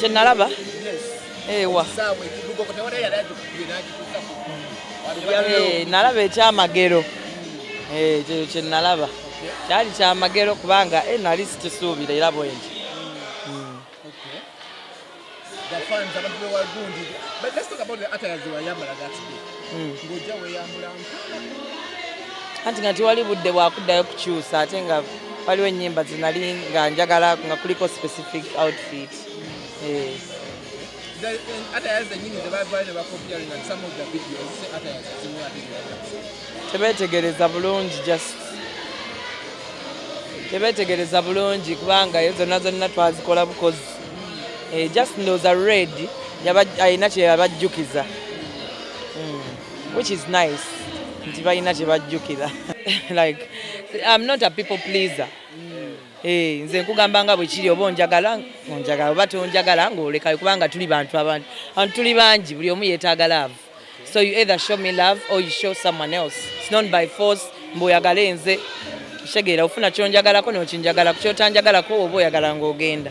kyenalaba ewa eh, nalaba ekyamagero eh, ekyo kyenalaba kyali kyamagero kubanga eh, nali sikisuubira era bwenti the fans abantu bewagundi but let's talk about the attires they were yambala that day hmm. ngojja weyambula anti nga tiwali budde bwakuddayo kukyusa ate nga waliwo ennyimba zinali nga njagala nga kuliko specific outfit eh. tebetegereza bulungi just tebetegereza bulungi kubanga yo zonna zonna twazikola bukozi eh, just ndowooza red alina kyeyabajjukiza hmm, which is nice nti balina kyebajjukira like I'm not a people pleaser hmm. eh, nze nkugamba nga bwekiri oba onjagala onjagala oba tonjagala ngaolekayo kubanga tuli bantu abantu antu tuli bangi buli omu yetaaga love so you either show me love or you show someone else it's not by force mbu oyagale nze kitegeera ofuna kyonjagalako nokinjagalako kyotanjagalako oba oyagala ngaogenda